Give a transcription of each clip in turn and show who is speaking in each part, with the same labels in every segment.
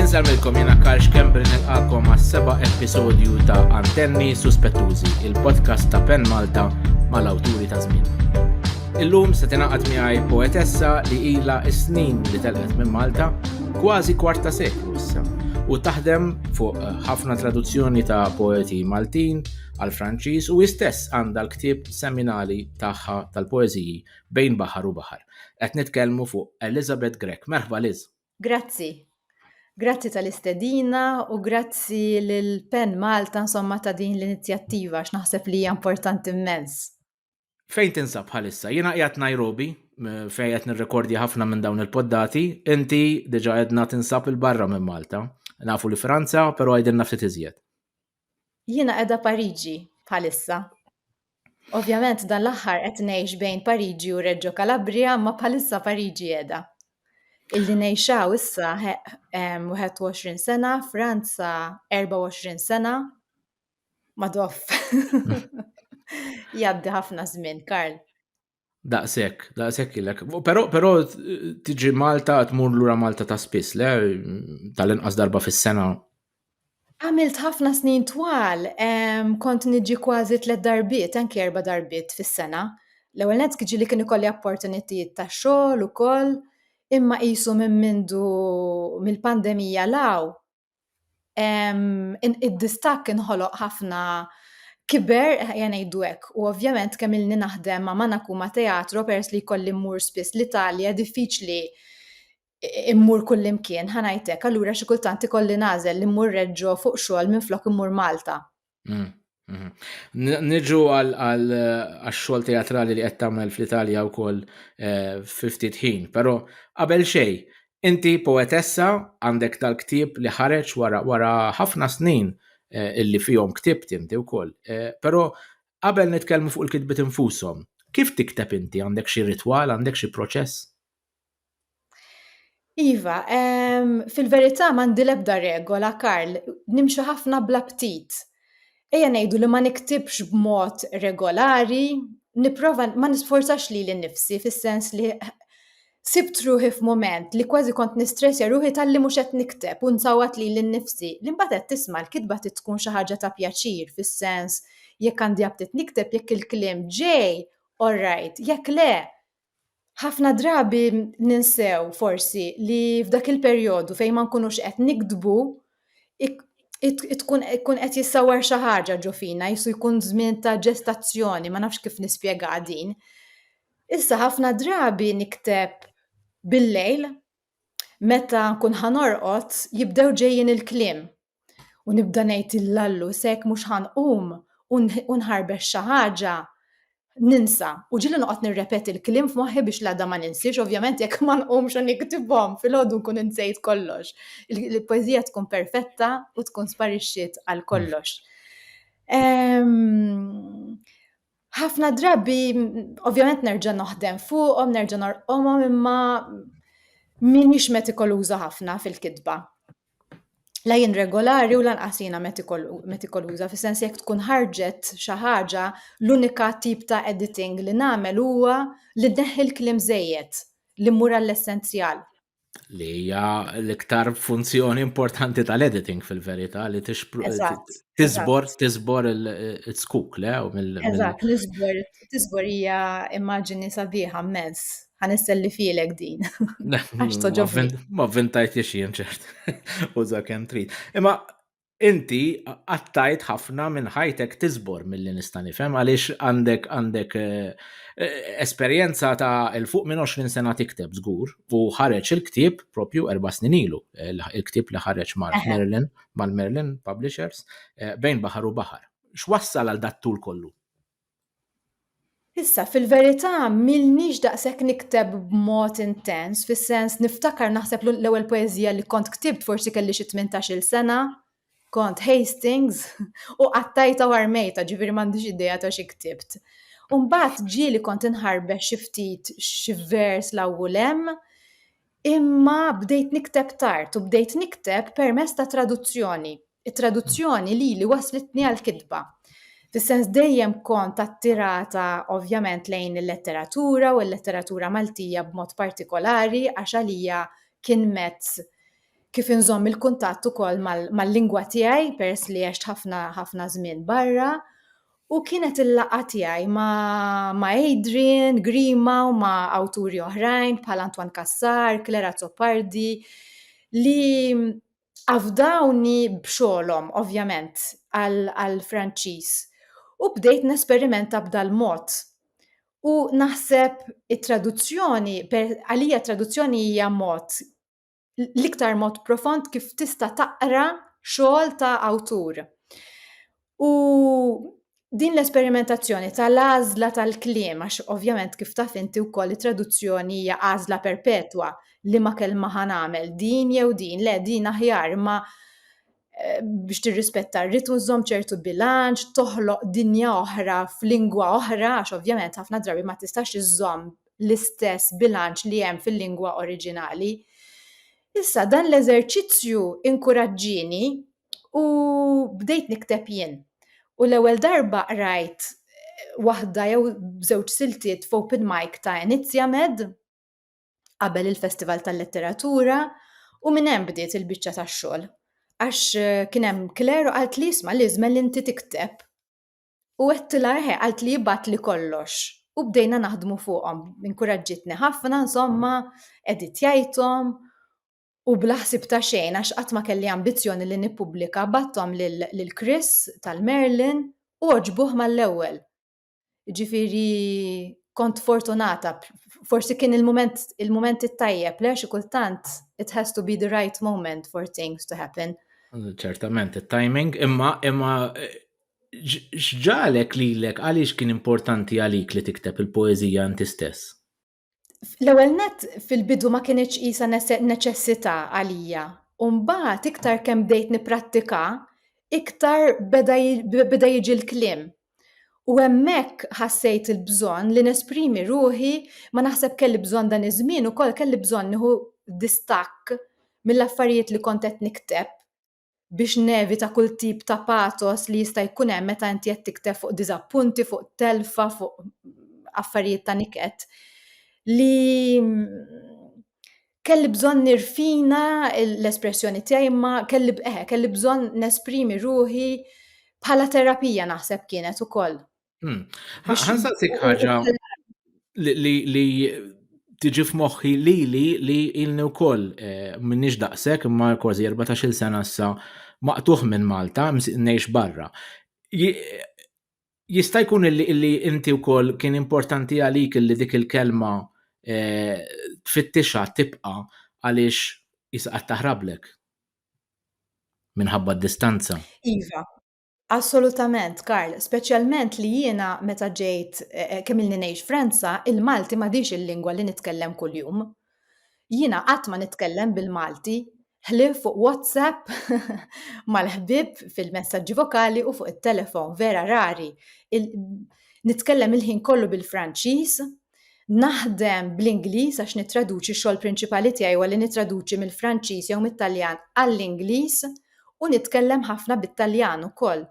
Speaker 1: Insemmilkom jena Karl Xkembri nilqakom għas seba episodju ta' Antenni Suspettużi, il-podcast ta' Pen Malta mal-awturi ta' żmien. Illum se tingħaqad miegħi poetessa li ilha snin li telqet minn Malta kważi kwarta seklu issa u taħdem fuq eh, ħafna traduzzjoni ta' poeti Maltin għal Franċiż u istess għandha l-ktieb seminali tagħha tal-poeżiji Bejn Baħar u Baħar. Qed nitkellmu fuq Elizabeth Grech. Merħba Liz. Grazzi.
Speaker 2: Grazzi tal-istedina u grazzi lil Pen Malta insomma ta' din l-inizjattiva għax naħseb li hija importanti immens. Fejn
Speaker 1: tinsab bħalissa? Jiena qiegħed Nairobi eh, fejn qed nirrekordja ħafna minn dawn il-poddati, inti diġa għedna tinsab il-barra minn Malta. Nafu li Franza, però għedin ftit iżjed. Jiena
Speaker 2: qiegħda Pariġi bħalissa. Ovvjament dan l-aħħar qed ngħix bejn Pariġi u Reġġo Kalabria, ma bħalissa Pariġi qiegħda. Illi ngħixaw issa 21 sena, Franza 24 sena, madoff. Jaddi ħafna żmien, Karl. Daqshekk,
Speaker 1: daqshekk ilek. Però però tiġi Malta tmur lura Malta ta' spiss, le tal-inqas darba fis-sena. Għamilt
Speaker 2: ħafna snin twal, kont niġi kważi tliet darbiet, anki erba' darbiet fis-sena. L-ewwel nett kiġi li kien ikolli opportunitijiet ta' xogħol ukoll, imma qisu minn mindu mill-pandemija law id-distakk inħoloq ħafna kiber jgħanajdu hekk u ovvjament kemm ilni naħdem ma' mana kuma teatro pers li jkolli mmur spiss l-Italja diffiċli immur kullimkien ħanajtek allura xi kultant ikolli nażel li mmur reġġo fuq xogħol minflok immur Malta. Mm,
Speaker 1: mm. Niġu għal-xol teatrali li qed tagħmel fl-Italja wkoll eh, fi ftit ħin, però qabel xej, inti poetessa għandek tal-ktieb li ħareġ wara ħafna snin eh, illi fihom ktieb inti wkoll. Eh, però qabel nitkellmu fuq il-kitbit infushom, kif tikteb inti għandek xi ritwal, għandek xi proċess?
Speaker 2: Iva, ehm, fil-verità m'għandi l-ebda regola, Karl, nimxi ħafna bla ptit. Ejja ngħidu li ma niktibx b'mod regolari, nipprova ma nisforzax lili nnifsi fis-sens li sibt ruħi f'mument li kważi kont nistressja ruħi talli mhux qed nikteb u nsawwat lili nnifsi. Li mbagħad qed tisma' l-kitba trid tkun xi ħaġa ta' pjaċir fis-sens jekk għandi aptit nikteb jekk il-kliem ġej, orrajt, jekk le, Ħafna drabi ninsew forsi li f'dak il-perjodu fejn ma nkunux qed nikdbu tkun ikun qed jissawar xi ħaġa ġo fina, jisu jkun żmien ta' ġestazzjoni, ma nafx kif nispjega din. Issa ħafna drabi nikteb bil-lejl meta nkun ħanorqod jibdew ġejjin il-kliem U nibda ngħid il-lallu sek mhux ħanqum u nħarbex xi ħaġa ninsa. U ġili noqgħod nirrepeti l-kliem f'moħħi biex l-għada ma ninsiex, ovvjament jekk ma nqumx u niktibhom fil-ħodu nkun insejt kollox. Il-poezija tkun perfetta u tkun sparixxiet għal kollox. Ehm, Ħafna drabi, ovvjament nerġa' noħdem fuqhom, nerġa' norqomhom imma m'iniex metikoluża ħafna fil-kitba. La jien regolari u lanqas jiena metikoluża, fis-sens jekk tkun ħarġet xi ħaġa, l-unika tip ta' editing li nagħmel huwa li nneħħi l-kliem żejjed, li mmur għall-essenzjal. Li hija
Speaker 1: l-iktar funzjoni importanti tal-editing fil-verità li tiżbor tiżbor il-skuk le u mill Eżatt, l-iżbor
Speaker 2: tiżbor hija immaġini sabiħa mezz. Ħanisselli filek din. Għax toġobni. Ma vintajt
Speaker 1: jien ċert. Uża kemm trid. Imma inti qattajt ħafna minn ħajtek tiżbor milli nista' nifhem għaliex għandek għandek eh, eh, esperjenza ta' il fuq minn 20 sena tikteb żgur u ħareġ il-ktieb propju erba' snin ilu eh, il-ktieb li ħareġ mal-Merlin mal-Merlin Publishers bejn baħar u baħar. X'wassal għal dat-tul kollu? Issa,
Speaker 2: fil-verità, m'ilnix daqshekk nikteb b'mod intens, fis-sens, niftakar naħseb l-ewwel poeżija li kont ktibt forsi kelli xi tmintax-il sena, kont Hastings, u qattajtha u armejtha, ġifieri m'għandix idea ta' xi ktibt. U mbagħad ġie li kont inħarbex xi ftit xi vers 'l hawn u 'l hemm, imma bdejt nikteb tard u bdejt nikteb permezz ta' traduzzjoni, It-traduzzjoni lili wasslitni għall-kitba. Fis-sens dejjem kont attirata ovvjament lejn il-letteratura u l-letteratura Maltija b'mod partikolari għax għalija kien mezz kif inżomm il-kuntatt ukoll mal-lingwa tiegħi peress li għext ħafna ħafna żmien barra u kienet il-laqgħa tiegħi ma' Adrian Grima u ma' awturi oħrajn bħal Antoine Cassar, Claire Azzopardi li Afdawni b'xogħolhom, ovvjament, għall-Franċiż u bdejt nesperimenta b'dal-mod. U naħseb it-traduzzjoni, għalija traduzzjoni hija mod, l-iktar mod profond kif tista' taqra xogħol ta' awtur. U din l-esperimentazzjoni tal-għażla tal-kliem, għax ovvjament kif taf inti wkoll it-traduzzjoni hija għażla perpetwa li ma kelma ħan għamel din jew din, le din aħjar ma eh, biex tirrispetta r-ritmu żomm ċertu bilanċ, toħloq dinja oħra f'lingwa oħra, għax ovvjament ħafna drabi ma tistax iżżomm l-istess bilanċ li hemm fil-lingwa oriġinali. Issa dan l-eżerċizzju inkuraġġini u bdejt nikteb jien. U l-ewwel darba rajt waħda jew żewġ siltiet f'open mic ta' Enizia Med qabel il-Festival tal-Letteratura u minn hemm bdiet il-biċċa tax-xogħol. Għax eh, kien hemm Claire u qalt li isma' li żmel inti tikteb. U għedtila eħe, qalt li jibat li kollox. U bdejna naħdmu fuqhom. Inkuraġġitni ħafna, insomma, editjajthom U bla ħsieb ta' xejn għax qatt ma kelli ambizzjoni li nippubblika bgħatthom lil Chris tal-Merlin u għoġbuh mal-ewwel. Jiġifieri kont fortunata, forsi kien il-mument il-mument it-tajjeb le xi kultant it has to be the right moment for things to happen. Ċertament
Speaker 1: it-timing imma imma x'ġalek lilek għaliex kien importanti għalik li tikteb il-poeżija inti stess? L-ewwel
Speaker 2: nett fil-bidu ma kinitx qisha neċessità għalija, u mbagħad iktar kemm bdejt nipprattika, iktar beda jiġi l-kliem. U hemmhekk ħassejt il-bżonn li nesprimi ruħi, ma naħseb kelli bżonn dan iż-żmien ukoll kelli bżonn nieħu distakk mill-affarijiet li kont qed nikteb. biex nevita kull tip ta' pathos li jista' jkun hemm meta inti qed tikteb fuq diżappunti, fuq telfa, fuq affarijiet ta' niket, li kelli bżonn nirfina l-espressjoni tiegħi imma kelli eh, kelli bżonn nesprimi ruħi bħala terapija naħseb kienet ukoll. Hmm.
Speaker 1: Ħansaqsik ħaġa li tiġi f'moħħi li li li ilni wkoll eh, minnix daqshekk imma kważi 14-il sena issa maqtuħ minn Malta, ngħix barra. Jista' jkun li inti wkoll kien importanti għalik li dik il-kelma eh, tfittixha tibqa' għaliex jisqat taħrablek minħabba d-distanza. Iva,
Speaker 2: Assolutament, Karl, speċjalment li jiena meta ġejt eh, eh, kemm ilni ngħix Franza, il-Malti m'għadix il-lingwa li nitkellem kuljum. Jiena qatt ma nitkellem bil-Malti, ħlief fuq WhatsApp mal-ħbib fil-messaġġi vokali u fuq it-telefon vera rari. Nitkellem il-ħin kollu bil-Franċiż, Naħdem bl-Ingliż għax nittraduċi x-xogħol prinċipali tiegħi huwa li nittraduċi mill-Franċiż jew mit-Taljan għall-Ingliż u nitkellem ħafna bit-Taljan ukoll.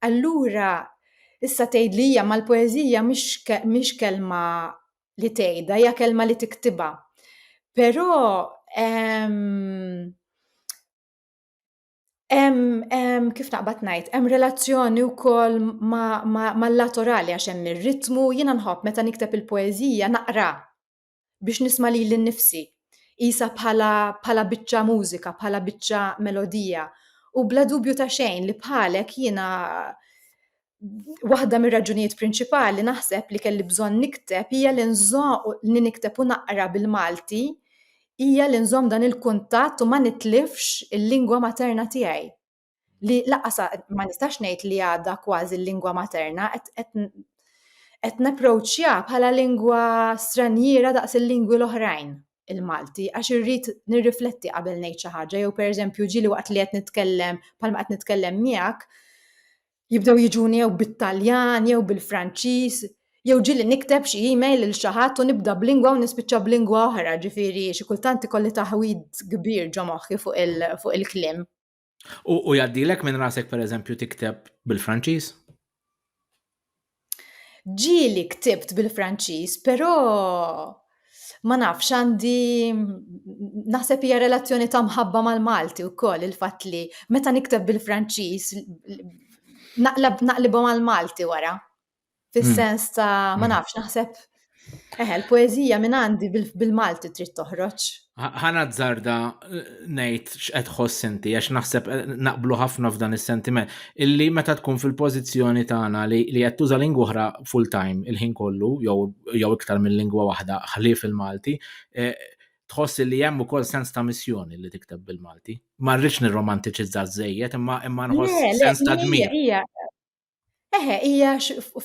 Speaker 2: Allura issa tgħid li hija mal-poeżija mhix kelma li tgħidha, hija kelma li tiktibha. Però ehm, Hemm kif naqbad ngħid, hemm relazzjoni wkoll mal-laterali għax hemm ir-ritmu, jiena nħobb meta nikteb il-poeżija naqra biex nisma' lili nnifsi. Qisha bħala bħala biċċa mużika, bħala biċċa melodija. U bla dubju ta' xejn li bħalek jiena waħda mir-raġunijiet prinċipali naħseb li kelli bżonn nikteb hija li li nikteb u naqra bil-Malti hija li nżomm dan il-kuntatt u ma nitlifx il-lingwa materna tiegħi. Li laqas ma nistax ngħid li għadha kważi l-lingwa materna qed napproċċja bħala lingwa stranjiera daqs il-lingwi l-oħrajn il-Malti għax irrid nirrifletti qabel ngħid xi ħaġa jew pereżempju ġieli waqt li qed nitkellem bħalma qed nitkellem miegħek Jibdew jiġuni jew bit-Taljan jew bil-Franċiż, jew ġieli nikteb xi email lil xi ħadd u nibda b'lingwa u nispiċċa b'lingwa oħra, ġifieri xi kultant ikolli taħwid kbir ġo moħħi fuq il-kliem. U
Speaker 1: jgħaddilek minn rasek pereżempju tikteb bil-Franċiż?
Speaker 2: Ġieli ktibt bil-Franċiż, però ma nafx għandi naħseb hija relazzjoni ta' mħabba mal-Malti wkoll il-fatt li meta nikteb bil-Franċiż naqlibhom għal Malti wara. Fis-sens ta' ma hmm. nafx naħseb Eħe, eh, l-poezija minn għandi bil-Malti trid toħroġ. Ħana zarda
Speaker 1: eh, nejt x'qed ħoss inti għax naħseb eh, naqblu ħafna f'dan is-sentiment illi meta tkun fil-pożizzjoni tagħna li qed tuża lingwa oħra full time il-ħin kollu jew iktar minn lingwa waħda ħlief il-Malti tħoss li hemm ukoll sens ta' missjoni li tikteb bil-Malti. Ma rridx nirromantiċizza żejjed imma imma nħoss sens ta' dmir. Eħe,
Speaker 2: hija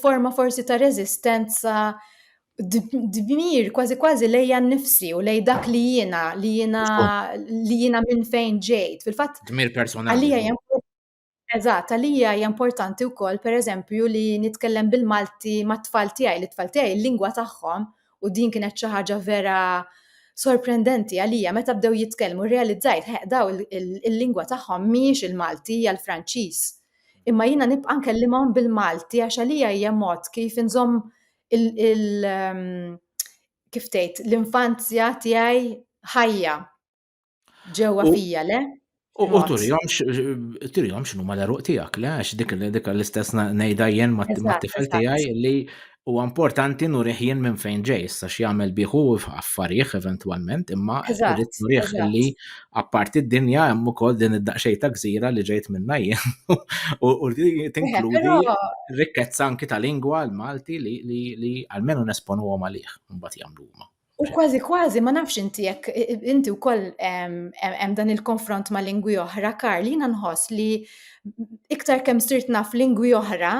Speaker 2: forma forsi ta' reżistenza dmir kważi kważi lejja nnifsi u lej dak li jiena li jiena li jiena minn fejn ġejt. Fil-fatt dmir personali. Għalija Eżatt, għalija hija importanti wkoll pereżempju li nitkellem bil-Malti mat-tfal tiegħi, li tfal tiegħi l-lingwa tagħhom u din kienet xi ħaġa vera sorprendenti għalija meta bdew jitkellmu realizzajt ħeq daw il-lingwa tagħhom mhijiex il-Malti hija l-Franċiż Imma jiena nibqa' nkellimhom bil-Malti għax għalija hija mod kif inżomm ehm, kif tgħid l-infanzja tiegħi ħajja ġewwa fija, le? U turihom
Speaker 1: turihom x'nu mal-eruq tiegħek, le għax dik dik l-istess ngħidha jien mat-tifel tiegħi li Huwa importanti nurih jien minn fejn ġej, issa x'jagħmel bih hu affarih eventwalment, imma rrid nurih li apparti d-dinja hemm ukoll din id-daqsxejn ta' gżira li ġejt minnha jien u tinkludi rikkezza anki ta' lingwa l-Malti li almenu nesponuhom għalih mbagħad jagħmlu huma. U kważi kważi
Speaker 2: ma nafx inti jekk inti wkoll hemm dan il-konfront ma' lingwi oħra, Karl, jiena nħoss li iktar kemm sirt naf lingwi oħra,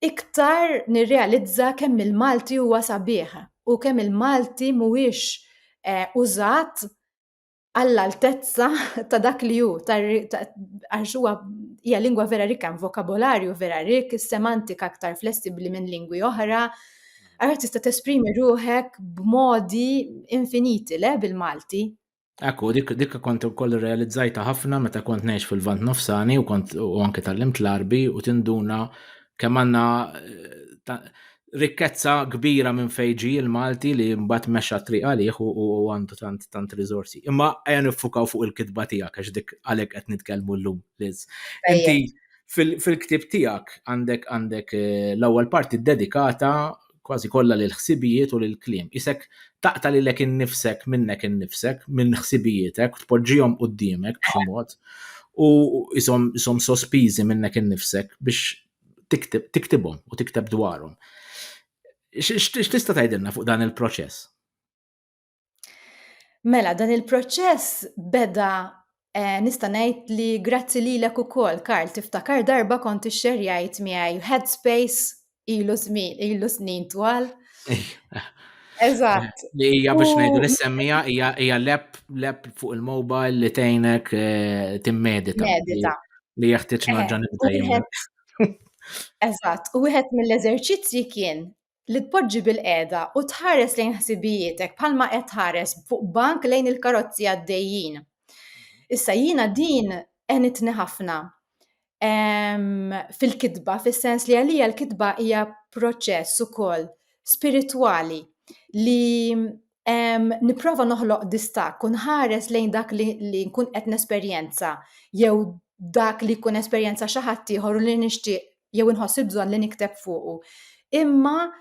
Speaker 2: iktar nirrealizza kemm il-Malti huwa sabiħ u kemm il-Malti mhuwiex eh, użat għall-altezza ta' dak li hu, għax huwa hija lingwa vera rikka, vokabolarju vera rik, semantika aktar flessibbli minn lingwi oħra. Għara tista' tesprimi ruħek b'modi infiniti le bil-Malti. Ekku, dik
Speaker 1: dik kont ukoll realizzajta ħafna meta kont ngħix fil-Vant Nofsani u kont u anke tal-limt l-Arbi u tinduna kemm għandna eh, rikkezza kbira minn fejġi il-Malti li mbagħad mexa triq għalih u għandu tant tant riżorsi. Imma għajja nifukaw fuq il-kitba tiegħek għax dik għalhekk qed nitkellmu llum Liz. Inti fil-ktib tiegħek għandek għandek eh, l-ewwel parti dedikata kważi kollha lil ħsibijiet u lil kliem. Qisek taqta' lilek innifsek minnek innifsek, minn ħsibijietek, tpoġġihom quddiemek b'xi mod u isom isom sospiżi minnek innifsek biex tiktib tiktibhom u tikteb dwarhom. X'tista' tgħidilna fuq dan il-proċess?
Speaker 2: Mela, dan il-proċess beda eh, nista' ngħid li grazzi lilek ukoll, Karl, tiftakar darba kont ixxerjajt miegħi Headspace ilu żmien, ilu snin twal. Eżatt. Li hija biex ngħidu
Speaker 1: l-semmija hija lep lep fuq il-mobile li tgħinek eh, timmedita. Medita. Li jeħtieġ eh, naġġa nibda
Speaker 2: Eżatt, u wieħed mill-eżerċizzji kien li tpoġġi bilqiegħda u tħares lejn ħsibijietek bħalma qed tħares fuq bank lejn il-karozzi għaddejjin. Issa jiena din għenitni ħafna fil-kitba, fis-sens li għalija l-kitba hija proċess ukoll spiritwali li nipprova noħloq distakk u nħares lejn dak li nkun qed nesperjenza jew dak li jkun esperjenza xi ħadd ieħor u li nixtieq jew inħoss il-bżonn li nikteb fuqu. Imma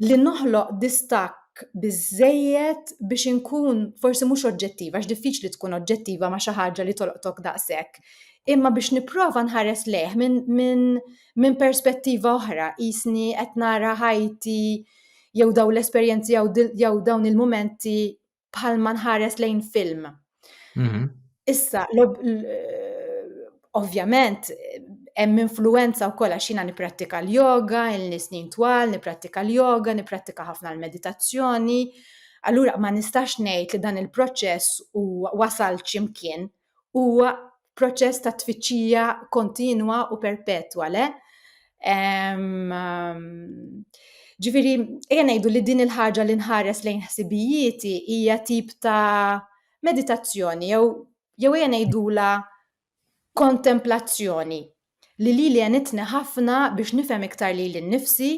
Speaker 2: li noħloq distakk biżejjed biex inkun forsi mhux oġġettiva, għax diffiċli tkun oġġettiva ma' xi ħaġa li tolqtok daqshekk. Imma biex nipprova nħares lejh minn min, min perspettiva oħra, jisni qed nara ħajti jew dawn l-esperjenzi jew dawn il-mumenti bħal ma nħares lejn film. Mhm. Issa, ovvjament, hemm influenza wkoll għax jiena nipprattika l-yoga, il-nisnin twal, nipprattika l-yoga, nipprattika ħafna l-meditazzjoni. Allura ma nistax ngħid li dan il-proċess u wasal x'imkien huwa proċess ta' tfittxija kontinwa u perpetwa, le? Ġifiri, ejja ngħidu li din il-ħaġa li nħares lejn ħsibijieti hija tip ta' meditazzjoni jew jew ejja ngħidula kontemplazzjoni li li li għenitni ħafna biex nifhem iktar li l-nifsi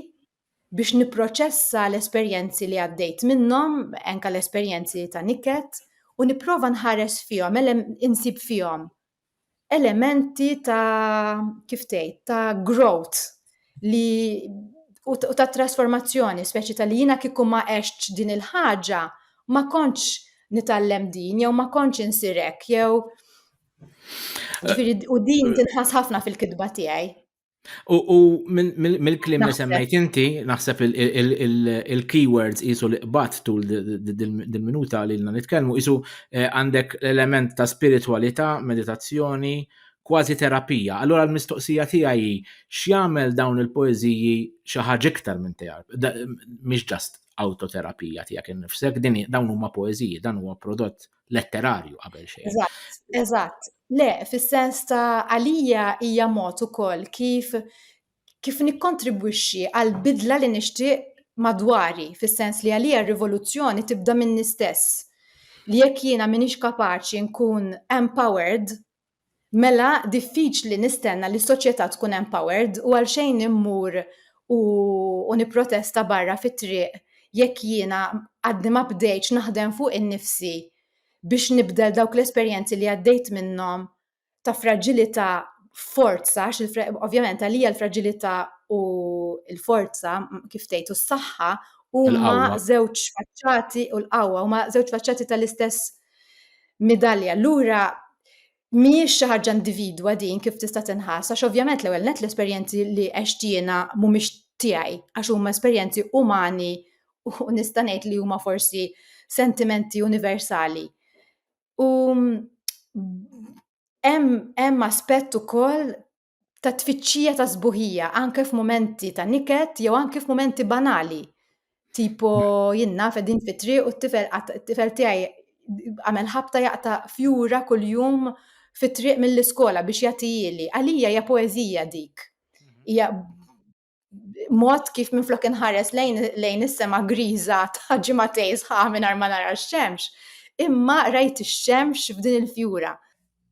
Speaker 2: biex nipproċessa l-esperjenzi li għaddejt minnhom, anke l-esperjenzi ta' niket, u nipprova nħares fihom, insib fihom elementi ta' kif tgħid, ta' growth li u ta' trasformazzjoni, speċi ta' li jiena kieku ma għextx din il-ħaġa ma kontx nitgħallem din jew ma kontx insir hekk jew u din tinħass ħafna fil-kitba tiegħi. U
Speaker 1: mill-klim li semmejt inti, naħseb il-keywords jisu li qbat tul dil-minuta li l-na nitkelmu, jisu eh, għandek l-element ta' spiritualita, meditazzjoni, kważi terapija. Allora l-mistoqsija tiegħi x'jagħmel dawn il-poeżiji xi ħaġa iktar minn terapija, mhix ġast autoterapija tiegħek innifsek, din dawn huma poeżiji, dan huwa prodott letterarju qabel xejn. Eżatt, eżatt.
Speaker 2: Le, fis-sens ta' għalija hija mod ukoll kif kif nikkontribwixxi għal bidla li nixtieq madwari, fis-sens li għalija r-rivoluzzjoni tibda minni stess. Li jekk jiena minix kapaċi nkun empowered, Mela diffiċli nistenna li s-soċjetà tkun empowered u għalxejn immur u, u nipprotesta barra fit-triq jekk jiena għadni ma bdejtx naħdem fuq innifsi biex nibdel dawk l-esperjenzi li għaddejt minnhom ta' fraġilità f'forza għax il ovvjament għalija l-fraġilità u l-forza kif tgħid u s-saħħa huma żewġ faċċati u l-qawwa huma żewġ faċċati tal-istess Midalja, allura mhijiex xi ħaġa individwa din kif tista' tinħass, għax ovvjament l-ewwel net l-esperjenzi li għext jiena mhumiex tiegħi, għax huma esperjenzi umani u nista' ngħid li huma forsi sentimenti universali. U hemm aspett ukoll ta' tfittxija ta' sbuħija anke f'mumenti ta' niket jew anke f'mumenti banali. Tipo jinna fedin fitri u t-tifel t-tifel tiegħi għamel ħabta jaqta' fjura kuljum fit-triq mill-iskola biex jagħtijili. Għalija hija poeżija dik. Mhm. Hija mod kif minflok inħares lejn lejn is-sema griża ta' ġimatej sħaħ mingħajr ma nara x-xemx, imma rajt ix-xemx f'din il-fjura.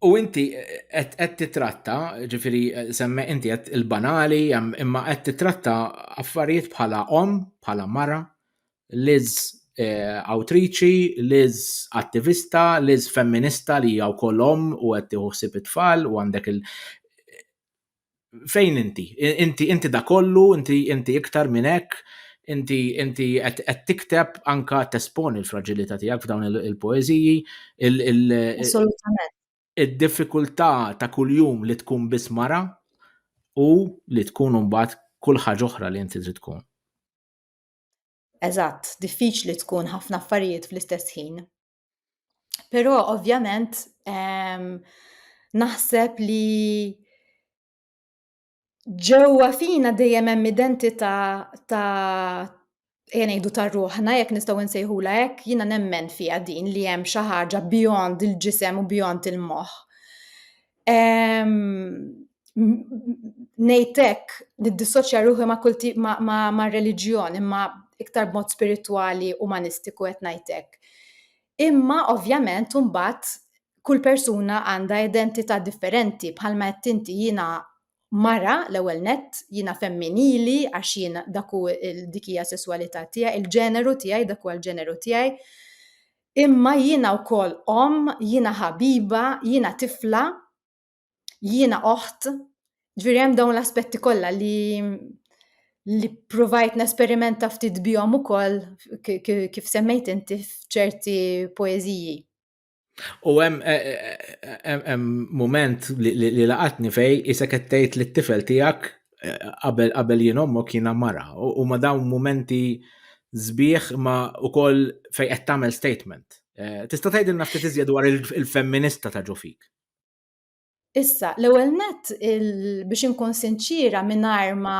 Speaker 2: U inti
Speaker 1: qed titratta, ġifiri semme inti qed il-banali, imma qed titratta affarijiet bħala om, bħala mara, liz eh, awtriċi, liz attivista, liz femminista li hija wkoll om u qed tieħu it-tfal u għandek il- fejn inti? Inti inti da kollu, inti inti iktar minn hekk, inti inti qed tikteb anka tesponi l-fraġilità tiegħek f'dawn il-poeżiji.
Speaker 2: Assolutament.
Speaker 1: Id-diffikultà ta' kuljum li tkun biss mara u li tkun mbagħad kull ħaġa oħra li inti trid tkun. Eżatt,
Speaker 2: diffiċli tkun ħafna affarijiet fl-istess ħin. Però ovvjament ehm, naħseb li ġewwa fina dejjem hemm identità ta' jenejdu ta' ruħna, jekk nistgħu nsejħula hekk, jiena nemmen fiha din li hemm xi ħaġa beyond il-ġisem u beyond il-moħħ. Nejtek, niddissoċja ruħi ma' kulti ma' reliġjon, imma iktar mod spirituali, umanistiku qed ngħidlek. Imma ovvjament imbagħad kull persuna għandha identità differenti bħalma qed inti jiena mara l-ewwel nett, jiena femminili għax jiena dak hu dik hija sesswalità tiegħi, il-ġeneru tiegħi dak huwa l-ġeneru tiegħi. Imma jiena wkoll omm, jiena ħabiba, jiena tifla, jiena oħt, ġifieri hemm dawn l-aspetti kollha li li ppruvajt nesperimenta ftit bihom ukoll kif semmejt inti f'ċerti poeżiji.
Speaker 1: U hemm hemm mument li laqatni fej isek qed tgħid lit-tifel tiegħek qabel qabel jien ommok jiena mara. U ma dawn momenti zbieħ ma u koll fej qed tagħmel statement. Eh, tista' tgħidilna ftit iżjed dwar il-femminista ta' ġofik.
Speaker 2: Issa, l-ewwel net biex inkun sinċira mingħajr ma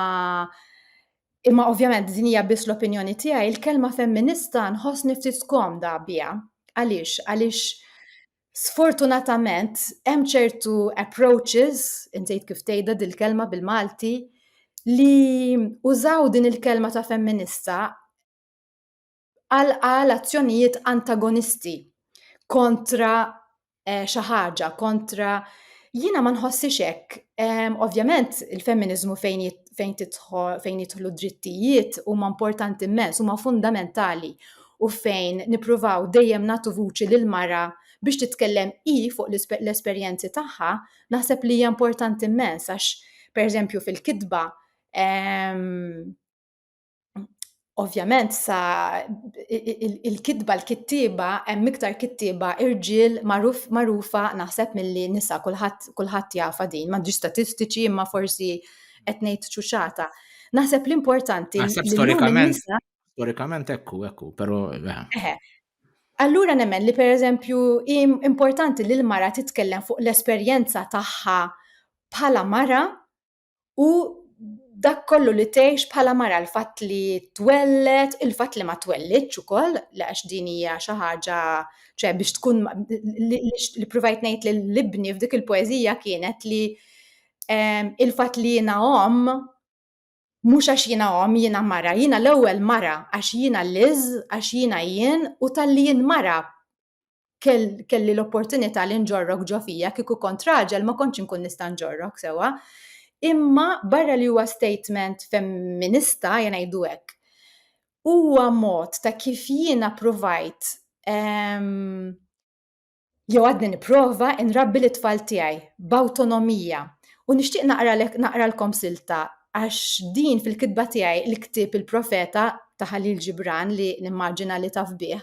Speaker 2: imma ovvjament din hija biss l-opinjoni tiegħi, il-kelma femminista nħossni ftit komda biha. Għaliex? Għaliex Sfortunatament, hemm ċertu approaches, insejt kif tgħidha dil-kelma bil-Malti, li użaw din il-kelma ta' femminista għal azzjonijiet antagonisti kontra eh, xi ħaġa, kontra jiena ma nħossix hekk. Ovvjament il-femminiżmu fejn fejn tidħol fejn jidħlu drittijiet huma importanti immens, huma fundamentali u fejn nippruvaw dejjem nagħtu vuċi lil mara biex titkellem hi fuq l-esperjenzi tagħha, naħseb li hija importanti immens għax pereżempju fil-kitba ehm, Ovvjament sa il-kitba l-kittiba hemm iktar kittiba irġiel magħrufa naħseb milli nisa kulħadd kulħadd jafa din m'għandix statistiċi imma forsi qed ngħid ċuċata. Naħseb l-importanti storikament
Speaker 1: storikament ekku ekku però eh.
Speaker 2: Allura nemmen li pereżempju importanti li l-mara titkellem fuq l-esperjenza tagħha bħala mara u dak kollu li tgħix bħala mara l-fatt li twelled, il-fatt li ma twellidx ukoll, għax din hija xi ħaġa ċe biex tkun li provajt ngħid lil ibni f'dik il-poeżija kienet li ehm, il-fatt li jiena omm mhux għax jiena omm jiena mara, jiena l-ewwel mara għax jiena liż, għax jiena jien u tal-li jien mara kelli l-opportunità li nġorrok ġo fija kieku kont raġel ma kontx inkun nista' nġorrok sewa. Imma barra li huwa statement femminista jena jdu hekk. Huwa mod ta' kif jiena provajt ehm, jew għadni nipprova nrabbi l tfal tiegħi b'awtonomija. U nixtieq naqralkom silta għax din fil-kitba tiegħi l-ktib il-profeta ta' Ħalil Ġibran li nimmaġina li taf bih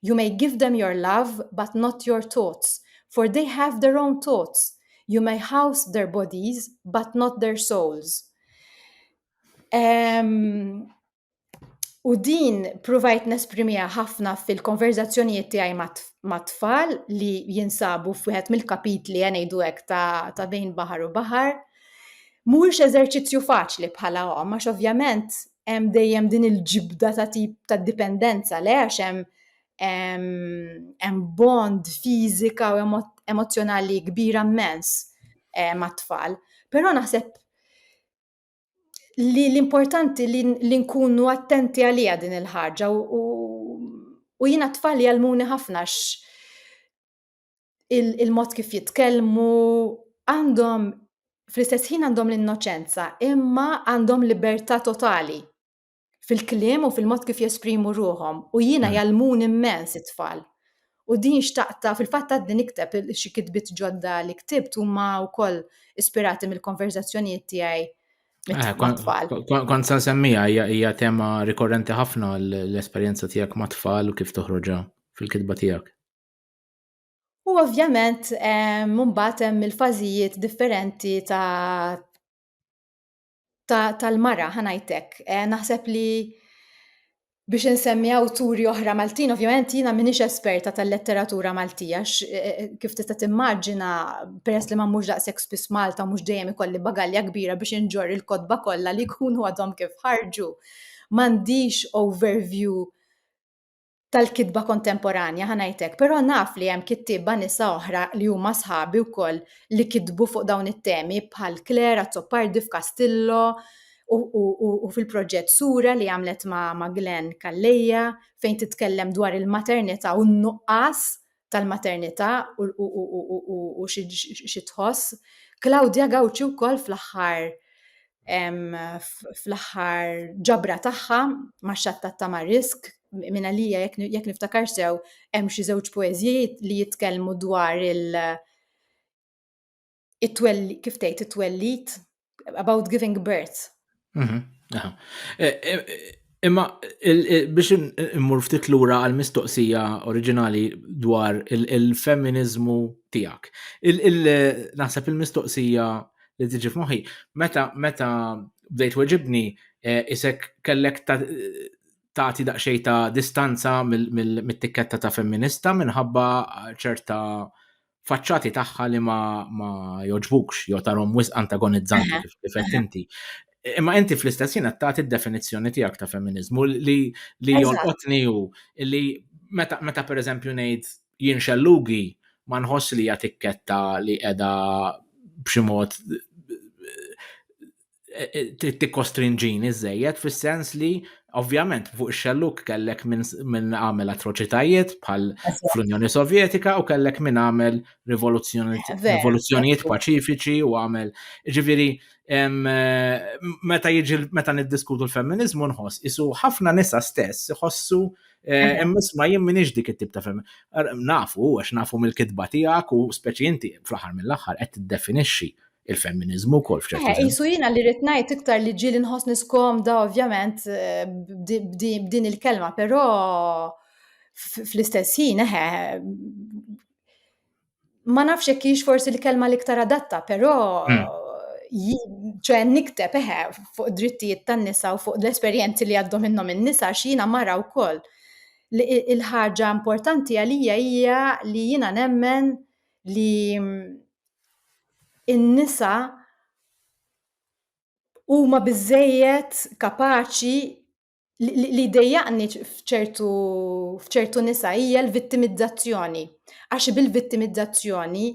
Speaker 2: You may give them your love but not your thoughts, for they have their own thoughts. You may house their bodies but not their souls. Um, U din provajt nesprimija ħafna fil-konverzazzjonijiet tiegħi mat-tfal li jinsabu f'wieħed mill-kapitli għanejdu hekk ta', ta bejn baħar u baħar. Mhuwiex eżerċizzju faċli bħala hom, għax ovvjament hemm dejjem din il-ġibda ta' tip ta' dipendenza le għax hemm hemm bond fiżika u emozzjonali kbira mmens eh, mat-tfal. Però naħseb li l-importanti li nkunu attenti għalija din il-ħaġa u jina t-tfal jgħalmuni ħafna il-mod kif jitkellmu, għandhom fl-istess ħin għandhom l-innoċenza, imma għandhom libertà totali fil-kliem u fil-mod kif jesprimu ruhom. U jiena hmm. jalmun immens it-tfal. U din xtaqta, fil-fatt għaddi nikteb xi kitbit ġodda li ktibt huma wkoll ispirati mill-konverzazzjonijiet tiegħi Eh,
Speaker 1: kon san semmija, hija tema rikorrenti ħafna l-esperienza tijak ma' tfal u kif toħroġa fil-kitba tijak.
Speaker 2: U ovvjament mbagħad hemm il-fażijiet differenti ta' tal-mara ħanajtek. Eh, naħseb li biex insemmi awturi oħra Maltin, ovvjament jiena minix esperta tal-letteratura Maltija, eh, eh, kif tista' timmaġina peress li ma mhux daqshekk spiss Malta mhux dejjem ikolli bagalja kbira biex inġor il-kotba kollha li jkunu għadhom kif ħarġu. M'għandix overview tal-kitba kontemporanja ħa ngħidlek, però naf li hemm kittieba nisa oħra li huma sħabi wkoll li kitbu fuq dawn it-temi bħal Claire Azzopardi f'Kastillo u fil-proġett Sura li għamlet ma' Glenn Calleja fejn titkellem dwar il-maternità u n-nuqqas tal-maternità u xi tħoss. Claudia Gawċi wkoll fl-aħħar fl-aħħar ġabra tagħha ma' xattat ta' Marisk minn għalija jekk niftakar sew hemm xi żewġ poeżiji li jitkellmu dwar il- it-twelli, kif tgħid it-twellit, about giving birth. Mhm, e, e,
Speaker 1: imma biex immur ftit lura għal mistoqsija oriġinali dwar il-femminizmu tiegħek. Naħseb il-mistoqsija li tiġi f'moħħi, meta meta bdejt weġibni e, isek kellek tagħti daqsxejn ta' distanza mit-tikketta ta' femminista minħabba ċerta faċċati tagħha li ma, ma joġbukx jew tarhom wisq antagonizzanti kif qed inti. Imma inti fl-istess jien qed tagħti d-definizzjoni tiegħek ta' femminizmu li li jolqotni hu li meta meta pereżempju ngħid jien xellugi ma nħoss li hija tikketta li qiegħda b'xi mod eh, eh, trid tikkostrinġini żejjed fis-sens li ovvjament fuq ix-xelluk kellek minn għamel atroċitajiet bħal fl-Unjoni
Speaker 2: Sovjetika
Speaker 1: u kellek minn għamel rivoluzzjonijiet paċifiċi
Speaker 2: u għamel
Speaker 1: ġifieri eh, meta jiġi meta niddiskutu l-femminizmu nħoss isu ħafna nisa stess iħossu Eh, imma isma jien minix dik it-tip ta' fem. Nafu, għax nafu mill-kitba tiegħek u speċi inti fl-aħħar mill-aħħar qed tiddefinixxi il-femminiżmu wkoll f'ċertu eh, sens. Isu jiena li rrid ngħid
Speaker 2: iktar li ġieli nħossni skomda ovvjament eh, b'din il-kelma, però fl-istess ħin eħe eh, ma nafx jekk hix forsi l-kelma l-iktar adatta, però hmm. ċe nikteb eħe fuq drittijiet tan-nisa u fuq l-esperjenzi li għaddu minnhom in-nisa x'jiena mara wkoll. Il-ħaġa importanti għalija hija li jiena nemmen li in-nisa huma biżżejjed kapaċi li jdejjaqni f'ċertu f'ċertu nisa hija l-vittimizzazzjoni. Għax bil-vittimizzazzjoni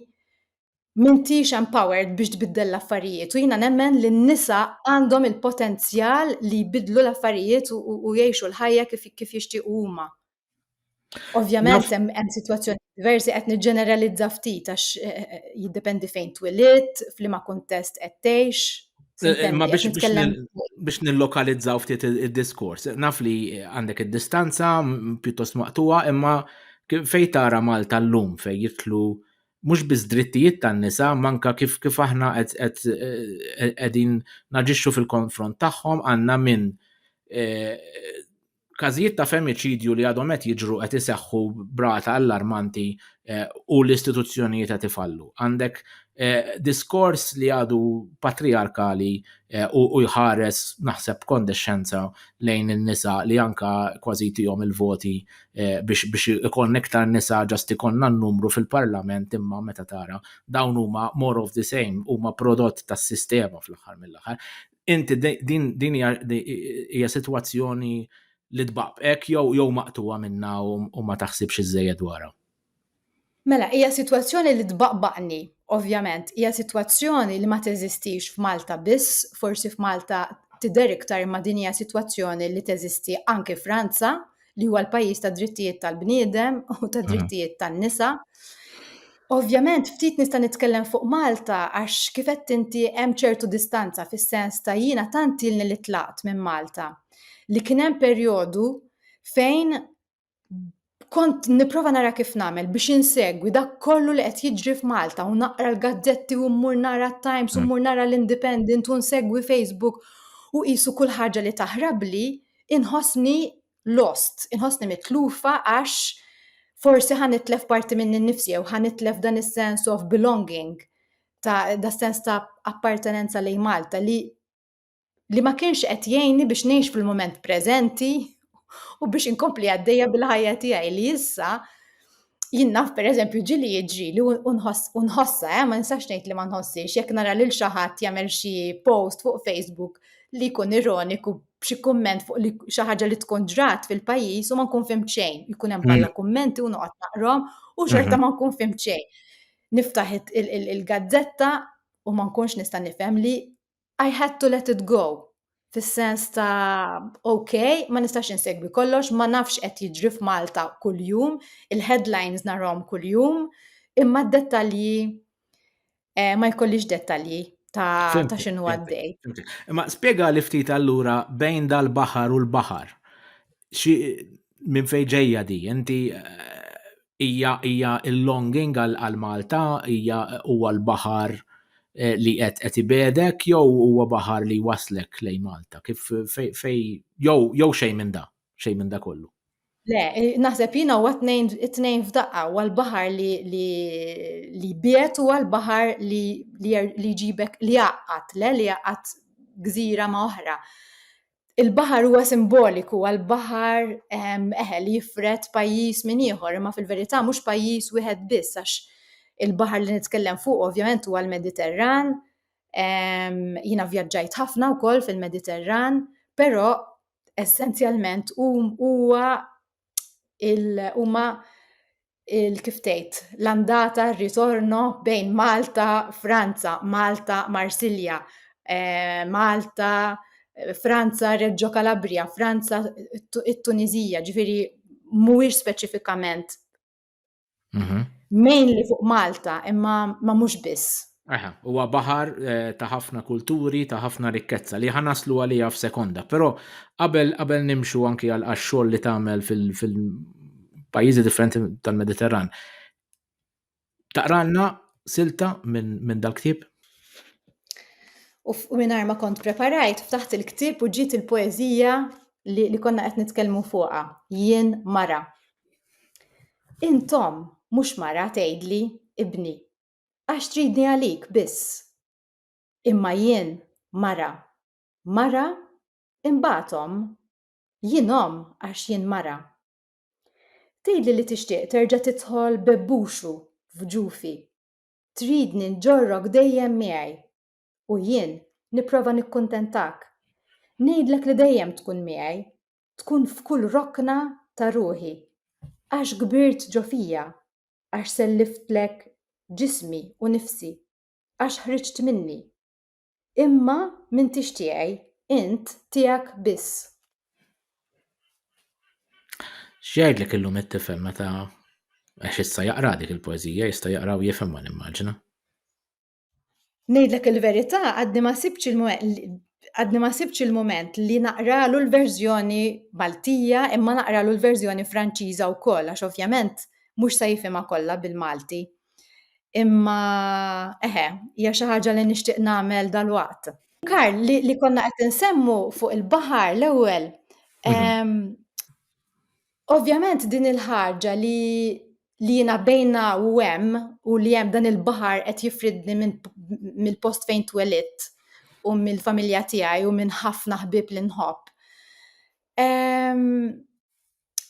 Speaker 2: m'intix empowered biex tbiddel l-affarijiet u jiena nemmen li n-nisa għandhom il-potenzjal li jbiddlu l-affarijiet u jgħixu l-ħajja kif jixtiequ huma. Ovvjament hemm sitwazzjoni diversi qed niġġeneralizza ftit għax eh, eh, jiddependi fejn twilit, f'liema kuntest qed tgħix. Eh, ma
Speaker 1: biex nillokalizzaw ftit il-diskors. Naf li għandek id-distanza pjuttost maqtuwa, imma fej tara Malta l-lum fej jitlu mhux biss drittijiet tan-nisa, manka kif kif aħna qegħdin naġixxu fil-konfront tagħhom għandna minn każijiet ta' femiċidju li għadhom qed jiġru qed iseħħu brata allarmanti eh, u l-istituzzjonijiet qed ifallu. Għandek eh, diskors li għadu patriarkali eh, u jħares naħseb kondexxenza lejn in-nisa li anka kważi tihom il-voti biex ikon iktar nisa ġast ikonna n-numru fil-parlament imma meta tara dawn huma more of the same huma prodott tas-sistema fl-aħħar mill-aħħar. inti din din hija sitwazzjoni li tbaqbek jew jew maqtuha minna u ma taħsibx iżejjed dwarha. Mela,
Speaker 2: hija sitwazzjoni li tbaqbaqni, ovvjament, hija sitwazzjoni li ma teżistix f'Malta biss, forsi f'Malta tidher iktar ma din hija sitwazzjoni li teżisti anke Franza, li huwa l-pajjiż ta' drittijiet tal-bniedem u ta' drittijiet tan-nisa. Ovvjament, ftit nista' nitkellem fuq Malta għax kif qed inti hemm ċertu distanza fis-sens ta' jiena tant ilni li tlaqt minn Malta li kien hemm perjodu fejn kont nipprova nara kif nagħmel biex insegwi dak kollu li qed jiġri f'Malta u naqra l-gazzetti u mmur nara t-Times u mmur nara l-Independent u nsegwi Facebook u qisu kull ħaġa li taħrabli inħossni lost, inħossni mitlufa għax forsi ħan itlef parti minni nnifsi jew ħan itlef dan is-sense of belonging ta' da sens ta' appartenenza lejn Malta li li ma kienx qed jgħinni biex ngħix fil-moment preżenti u biex inkompli għaddejja bil-ħajja tiegħi li issa jien naf per eżempju ġili jiġri li unħossa, eh, ma nistax ngħid li ma nħossix, jekk nara lil xi ħadd jagħmel xi post fuq Facebook li jkun ironiku b'xi kumment fuq li xi ħaġa li tkun ġrat fil-pajjiż u ma nkun fim xejn, jkun hemm bħala mm. kummenti u noqgħod naqrom u xorta mm-hmm. ma nkun fim xejn. Niftaħ il-gazzetta u ma nkunx nista' nifhem li I had to let it go fis-sens ta' ok, ma nistax insegwi kollox, ma nafx qed jiġri f'Malta kuljum, il-headlines narhom kuljum, imma d-dettalji eh, ma jkollix dettalji ta', ta xinu għaddej. Imma spiega
Speaker 1: li ftit allura bejn dal-baħar u l-baħar. Minn fejn ġejja di, inti eh, hija hija l-longing għal Malta hija huwa l-baħar eh, li qed qed ibedek jew huwa baħar li waslek lej Malta kif fej fej jew jew xejn minn da, xejn minn da kollu. Le, eh,
Speaker 2: naħseb jina huwa tnejn tnejn f'daqqa huwa l-baħar li li li biet huwa l-baħar li li jġibek li jaqqat le li jaqqat gżira ma' oħra. il-baħar huwa simboliku għal baħar eħe li jifret pajjiż minn ieħor, imma fil-verità mhux pajjiż wieħed biss għax il-baħar li nitkellem fuq ovvjament huwa l-Mediterran. Jiena vjaġġajt ħafna wkoll fil-Mediterran, però essenzjalment huwa huma kif tgħid l-andata r-ritorno bejn Malta Franza, Malta Marsilja, eh, Malta Franza Reġġo Kalabrija, Franza it-Tuniżija, ġifieri mhuwiex speċifikament Mhm. Mainly fuq Malta, imma ma mhux biss. Aha, huwa baħar
Speaker 1: eh, ta' ħafna kulturi, ta' ħafna rikkezza li ħanaslu għalija f'sekonda, però qabel qabel nimxu anki għal xogħol li tagħmel fil-pajjiżi differenti tal-Mediterran. Taqralna silta minn min dal-ktieb?
Speaker 2: U minn ma kont preparajt, ftaħt il-ktieb u ġiet il-poezija li, li konna qed nitkellmu fuqha, jien mara. Intom mhux mara tgħidli, Ibni, għax tridni għalik biss. Imma jien mara, mara, imbagħad omm. Jien omm għax jien mara. Tgħidli li tixtieq terġa' tidħol bebbuxu f'ġufi. Tridni nġorrok dejjem miegħi. U jien nipprova nikkuntentak. Ngħidlek li dejjem tkun miegħi, tkun f'kull rokna ta' ruħi, għax kbirt ġo fija, għax selliftlek ġismi u nifsi, għax ħriġt minni. Imma m'intix tiegħi, int tiegħek biss.
Speaker 1: X'jgħidlek illum it-tifel meta għax issa jaqra dik il-poeżija, jista' jaqra u jifhimha nimmaġina. Ngħidlek
Speaker 2: il-verità għadni ma sibx il-moment għadni ma sibx il-moment li naqralu l-verżjoni Maltija imma naqralu l-verżjoni Franċiża wkoll għax ovvjament mhux se jifhimha kollha bil-Malti. Imma eħe, hija xi ħaġa li nixtieq nagħmel dalwaqt. Karl, li, li konna qed insemmu fuq il-baħar l-ewwel. Mhm. Ovvjament din il-ħaġa li li jina bejna u hemm u li hemm dan il-baħar qed jifridni mill-post fejn twelitt u mill-familja tiegħi u minn ħafna ħbib li nħobb.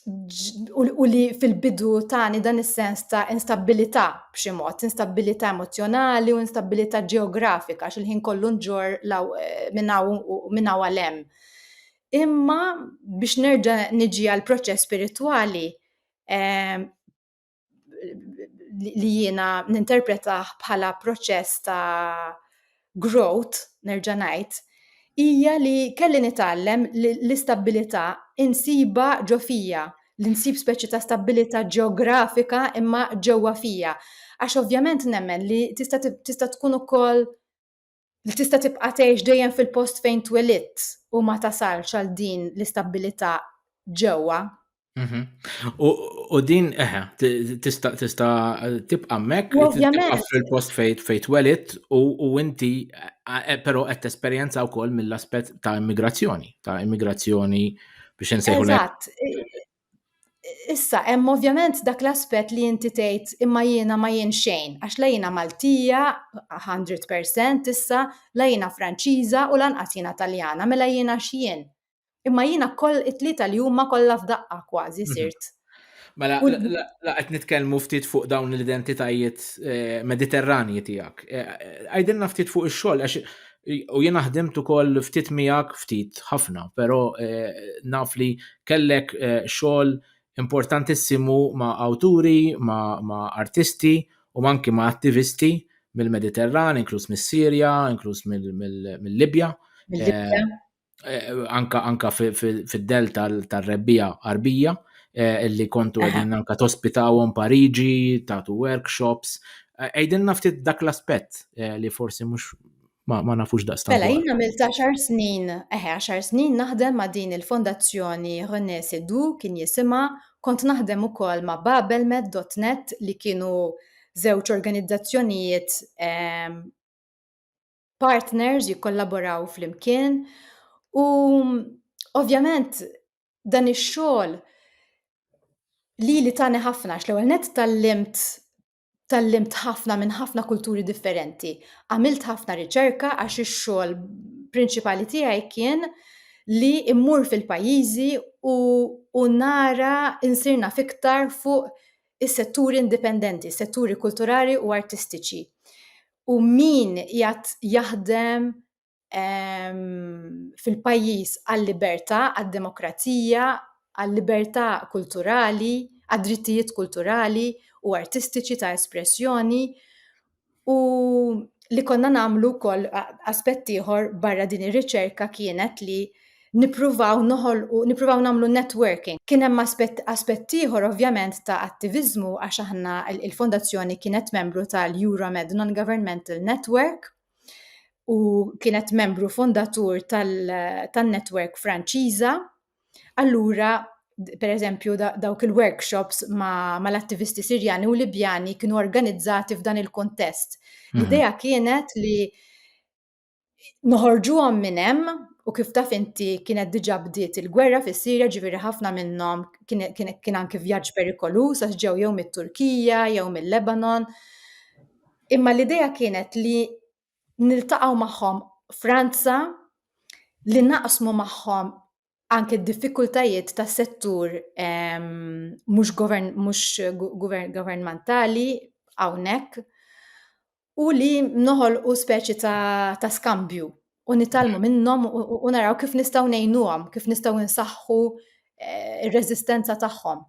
Speaker 2: U li fil-bidu tani dan is-sens ta' instabilità b'xi mod, instabilità emozjonali u instabilità ġeografika xil-ħin kollu nġor eh, minna u għalem. Imma biex nerġa' niġi għal proċess spiritwali, ehm, li jiena ninterpretaħ bħala proċess ta' growth, nerġa' ngħid, hija li kelli nitgħallem l-istabilità insiba ġo fija, li nsib speċi ta' stabilità ġeografika imma ġewwa fija. Għax ovvjament nemmen li tista' tkun ukoll li tista' tibqa' tgħix dejjem fil-post fejn twelidt u ma tasalx għal din l-istabbilità ġewwa.
Speaker 1: Mhm. U din eħe, tista' tista' tibqa' mek, tibqa' fil-post fejn fejn twelidt u inti e, però qed tesperjenza wkoll mill-aspett ta' immigrazzjoni, ta' immigrazzjoni biex insejħu. Eżatt.
Speaker 2: Issa, hemm ovvjament dak l-aspett li inti tgħid imma jiena ma jien xejn, għax la jiena Maltija 100% issa, la jiena Franċiża u lanqas jiena Taljana, mela jiena x'jien? Imma jiena koll it-tlieta li huma kollha f'daqqa kważi mhm. sirt. Mela,
Speaker 1: la qed nitkellmu ftit fuq dawn l-identitajiet eh, mediterranji tiegħek. Eh, eh, għajdilna ftit fuq ix-xogħol għax U jiena ħdimt ukoll ftit miegħek, ftit ħafna, però eh, naf li kellek eh, xogħol importantissimu ma' awturi, ma', ma artisti u manki ma' attivisti mill-Mediterran, inkluż mis-Sirja, inkluż mill-Libja. Mill-Libja. Eh, eh, anka anka fid-del tal-rebbija arbija eh, illi kontu għedin anka tospitawhom Pariġi, tatu workshops. Eh, għedin naftit dak l-aspett li forsi mhux ma, ma nafux daqstan. Mela, jina mil 10
Speaker 2: snin, eħe, 10 snin naħdem ma din il-fondazzjoni René Sedu kien jisima, kont naħdem u kol ma babelmed.net li kienu zewċ organizzazzjonijiet ehm, partners jikkollaboraw flimkien u ovvjament dan ix-xogħol li li tani ħafna x'l-ewwel net tallimt tallimt ħafna minn ħafna kulturi differenti. Għamilt ħafna riċerka għax ix-xogħol prinċipali tiegħi kien li immur fil-pajjiżi u, u nara insirna fiktar fuq is-setturi indipendenti, setturi kulturali u artistiċi. u min jgħat jaħdem fil-pajjiż għal-libertà, għad-demokrazija, għal-libertà kulturali, għad-drittijiet kulturali u artistiċi ta' espressjoni u li konna nagħmlu wkoll aspett ieħor barra din ir-riċerka kienet li nippruvaw noħolqu, nippruvaw nagħmlu networking. Kien hemm aspett aspett ieħor ovvjament ta' attiviżmu għax aħna il-fondazzjoni kienet membru tal-Euromed Non-Governmental Network u kienet membru fondatur tan-network Franċiża. Allura per eżempju dawk il-workshops mal-attivisti ma Sirjani u Libjani kienu organizzati f'dan il-kontest. Mhm. L-idea kienet li noħorġuhom minn hemm u kif taf inti kienet diġà bdiet il-gwerra fis-Sirja ġifieri ħafna minnhom kien anki vjaġġ perikoluż għax ġew jew mit-Turkija jew mill-Lebanon. Imma l-idea kienet li niltaqgħu magħhom Franza li naqsmu magħhom anke d-diffikultajiet tas settur ehm, mhux governmentali hawnhekk u li noħolqu speċi ta', ta skambju u nitalmu mm. minnhom u naraw kif nistgħu ngħinuhom, kif nistgħu nsaħħu eh, ir-reżistenza tagħhom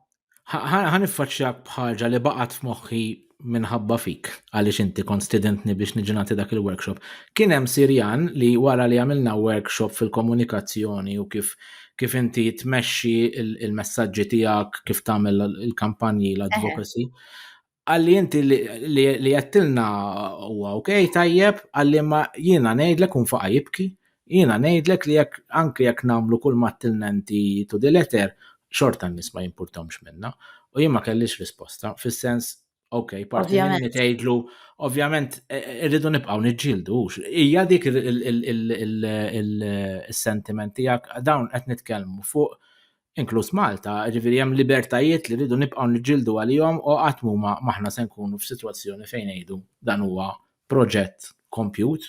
Speaker 2: ħan
Speaker 1: iffaċċjak bħaġa li baqgħet f'moħħi minħabba fik, għaliex inti kont studentni biex niġi nagħti dak il-workshop. Kien hemm Sirjan li wara li għamilna workshop fil-komunikazzjoni u kif kif inti tmexxi il-messaġġi tiegħek, kif tagħmel il-kampanji l-advocacy. Għalli inti li jattilna huwa ok, tajjeb, għalli ma jiena ngħidlek un faqa jibki, jiena ngħidlek li jekk anke jekk nagħmlu kull ma tilna inti to the letter, xorta n-nies ma jimpurtomx minna. U jien ma kellix risposta, fis-sens ok, parti minni tgħidlu, ovvjament e, e, irridu nibqgħu niġġieldu, hija dik is-sentiment tiegħek dawn qed nitkellmu fuq inkluż Malta, jiġifieri hemm libertajiet li rridu nibqgħu niġġieldu għalihom u qatt m'huma m'aħna se nkunu f'sitwazzjoni fejn ngħidu dan huwa proġett kompjut,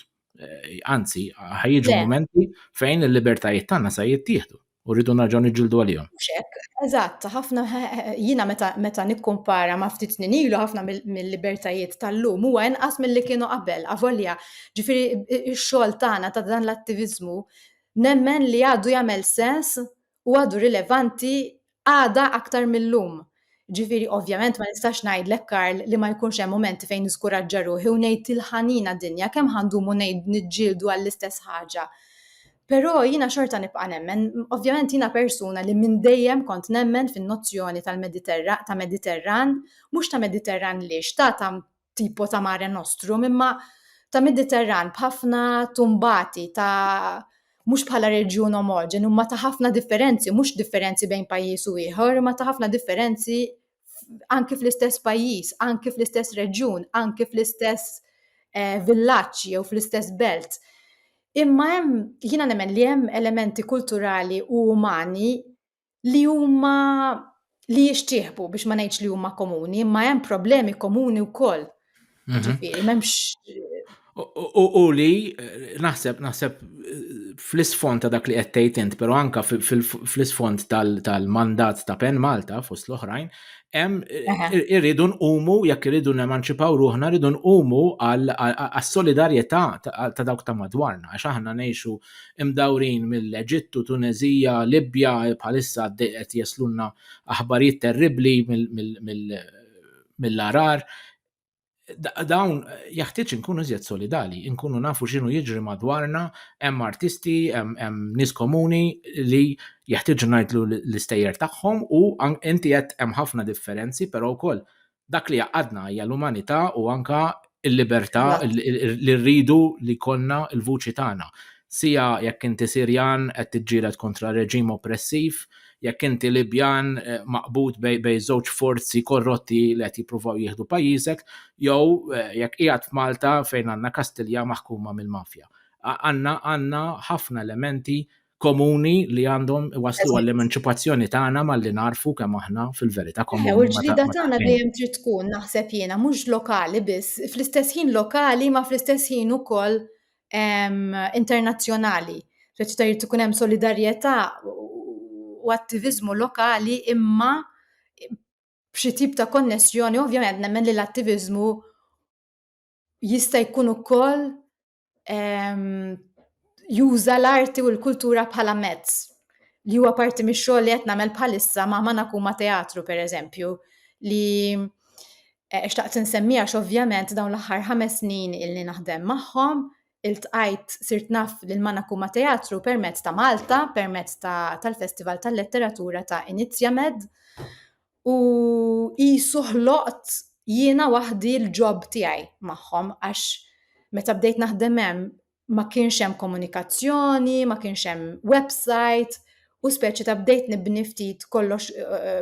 Speaker 1: anzi ħa jiġu mumenti fejn il-libertajiet tagħna se jittieħdu u rridu nerġgħu niġġieldu għalihom. Mhux hekk, eżatt,
Speaker 2: ħafna jiena meta meta nikkumpara ma' ftit snin ilu ħafna mill-libertajiet tal-lum huwa inqas milli kienu qabel. Avolja, ġifieri x-xogħol tagħna ta' dan l-attiviżmu nemmen li għadu jagħmel sens u għadu rilevanti għada aktar mill-lum. Ġifiri, ovvjament ma nistax ngħidlek Karl li ma jkunx hemm momenti fejn niskuraġġa ruħi u ngħid il-ħanina dinja kemm ħandumu ngħid niġġieldu għall-istess ħaġa. Però jiena xorta nibqa' nemmen, ovvjament jiena persuna li minn dejjem kont nemmen fin-nozzjoni tal-Mediterran ta' Mediterran, mhux ta' Mediterran li xtata tipo ta' mare nostrum, imma ta' Mediterran b'ħafna tumbati ta' mhux bħala reġjun omogen, imma ta' ħafna differenzi, mhux differenzi bejn pajjiż u ieħor, imma ta' ħafna differenzi anki fl-istess pajjiż, anki fl-istess reġjun, anki fl-istess eh, villaġġ jew fl-istess belt. Imma hemm jiena nemmen li hemm elementi kulturali u umani li huma li jixtieħbu biex ma ngħidx li huma komuni, imma hemm problemi komuni wkoll. Mhm. Ġifieri m'hemmx
Speaker 1: U li naħseb naħseb fl-isfond ta' dak li qed tgħid int, però anka fl-isfond tal-mandat ta' Pen Malta fost l-oħrajn, hemm irridu nqumu jekk irridu nemanċipaw ruħna rridu nqumu għas-solidarjetà ta' dawk ta' madwarna għax aħna ngħixu imdawrin mill-Eġittu, Tuneżija, Libja, bħalissa għaddej qed jeslunna aħbarijiet terribbli mill-arar. Dawn jaħtieġ inkunu iżjed solidali, inkunu nafu x'inhu jiġri madwarna, hemm artisti, hemm nies komuni li jaħtieġ ngħidlu l-istejjer tagħhom u inti qed hemm ħafna differenzi, però wkoll dak li jaqadna hija l-umanità u anka il-libertà li rridu li konna il-vuċi tagħna. Sija jekk inti Sirjan qed tiġġieled kontra reġim oppressiv, jekk inti Libjan eh, maqbud bej żewġ forzi korrotti li qed jippruvaw jieħdu pajjiżek, jew eh, jekk qiegħed f'Malta fejn għandna Kastilja maħkuma mill-mafja. Għandna għandna ħafna elementi komuni li għandhom waslu għall-emanċipazzjoni tagħna malli narfu kemm aħna fil-verità komuni. U l-ġlida tagħna
Speaker 2: dejjem trid tkun naħseb jiena mhux lokali biss, fl-istess ħin lokali ma fl-istess ħin ukoll internazzjonali. Ġaċ tajt ikun hemm solidarjetà u attivizmu lokali imma b'xi tip ta' konnessjoni, ovvjament nemmen li l-attivizmu jista' jkun ukoll juża l-arti u l-kultura bħala mezz li huwa parti mix-xogħol li qed nagħmel bħalissa ma' Manakuma Teatru pereżempju li eh, xtaqt insemmija ovvjament dawn l-aħħar ħames snin illi naħdem magħhom iltqajt sirt naf lil Manakuma Teatru permezz ta' Malta, permezz tal-Festival tal-Letteratura ta' Inizjamed. u qisu ħloqt jiena waħdi l-ġob tiegħi magħhom għax meta bdejt naħdem hemm ma kienx hemm komunikazzjoni, ma kienx hemm website u speċi ta' bdejt nibni ftit kollox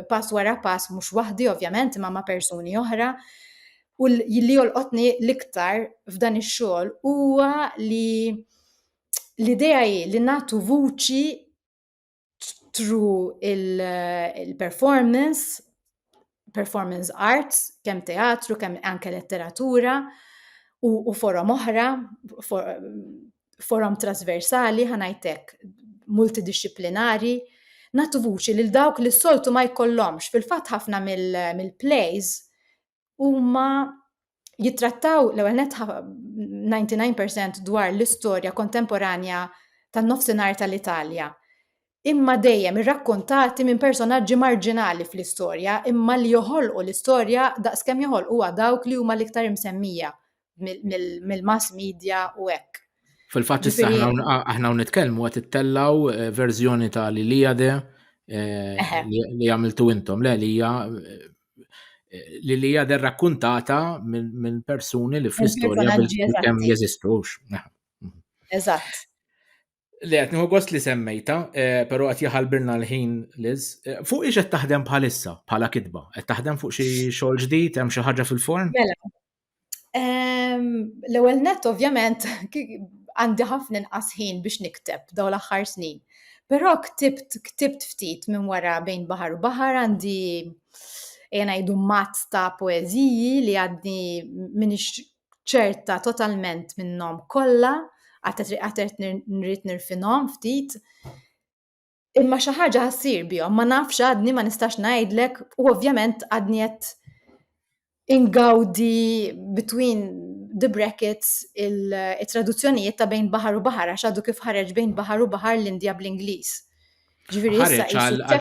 Speaker 2: pass wara pass mhux waħdi ovvjament imma ma' persuni oħra. U li jolqotni l-iktar f'dan ix-xogħol huwa li l-idea hi li nagħtu vuċi through il-performance, performance arts, kemm teatru, kemm anke letteratura u, u forom oħra, for, forom trasversali, ħanajtek multidisciplinari, natu vuċi lil dawk li s-soltu ma jkollhomx. Fil-fatt ħafna mill-plays mil huma jittrattaw l-ewwel net 99% dwar l-istorja kontemporanja tan-nofsinhar tal-Italja. Imma dejjem irrakkontati minn personaġġi marġinali fl-istorja, imma li joħolqu l-istorja daqskemm joħolquha dawk li huma l-iktar imsemmija mill-mass media u hekk. Fil-fatt issa
Speaker 1: aħna nitkellmu qed ittellaw eh, verżjoni ta' li li għade eh, li għamiltu intom, le li hija eh, li li għade rakkuntata minn persuni li fl-istorja kemm jeżistux. Eżatt. Le, qed nieħu gost li semmejta, eh, però qed jaħalbirna l-ħin Liz. Eh, fuq ix qed taħdem bħalissa bħala kitba? Qed taħdem fuq xi xogħol ġdid, hemm xi ħaġa fil-form? Mela.
Speaker 2: Ehm, l-ewwel net ovvjament għandi ħafna inqas ħin biex nikteb daw l-aħħar snin. Però ktibt ktibt ftit minn wara bejn baħar u baħar għandi jena jdu mazz ta' poeziji li għadni minix ċerta totalment minnhom kollha, għatet għatet nrid nirfinhom ftit. Imma xi ħaġa ħassir bihom, ma nafx għadni ma nistax ngħidlek u ovvjament għadni qed ingawdi between the brackets il-traduzzjonijiet ta' bejn baħar u baħar għax għadu kif ħareġ bejn baħar u baħar l-Indja bl-Ingliż. Ġifieri issa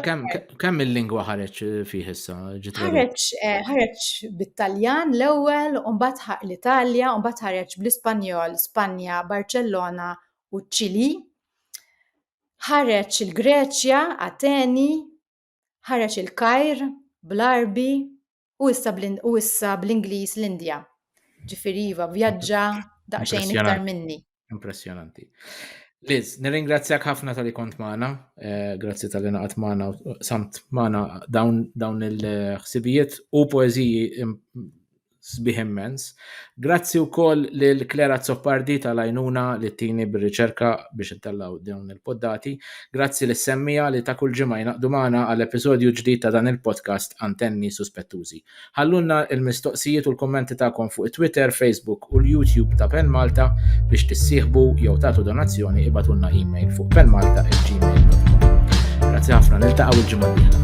Speaker 2: kemm il-lingwa
Speaker 1: ħareġ eh, fih issa Ħareġ eh,
Speaker 2: ħareġ bit-Taljan l-ewwel, u mbagħad ħaq l-Italja, u mbagħad ħareġ bl-Ispanjol, Spanja, Barcellona u ċ-Ċili. Ħareġ il-Greċja, Ateni, ħareġ il-Kajr, bl-Arbi, U issa u issa bl-Ingliż l-Indja. Ġifieri iva vjaġġa daqsxejn iktar minni. Impressjonanti.
Speaker 1: Liz, nirringrazzjak ħafna tal-li kont maħna, eh, grazzi tal-li naqat maħna, samt maħna dawn il-ħsibijiet u poeziji sbiħ immens. Grazzi wkoll lil Claire Azzopardi tal-għajnuna li ttini bir-riċerka biex intellgħu dawn il-poddati. Grazzi lis-semmija li ta' kull ġimgħa jingħaqdu magħna għal episodju ġdid ta' dan il-podcast Antenni Suspettużi. Ħallulna l-mistoqsijiet u l-kummenti tagħkom fuq it-Twitter, Facebook u l-YouTube ta' Pen Malta biex tissieħbu jew tagħtu donazzjoni ibatulna email fuq penmalta@gmail.com. Grazzi ħafna, niltaqgħu l-ġimgħa d-dieħla.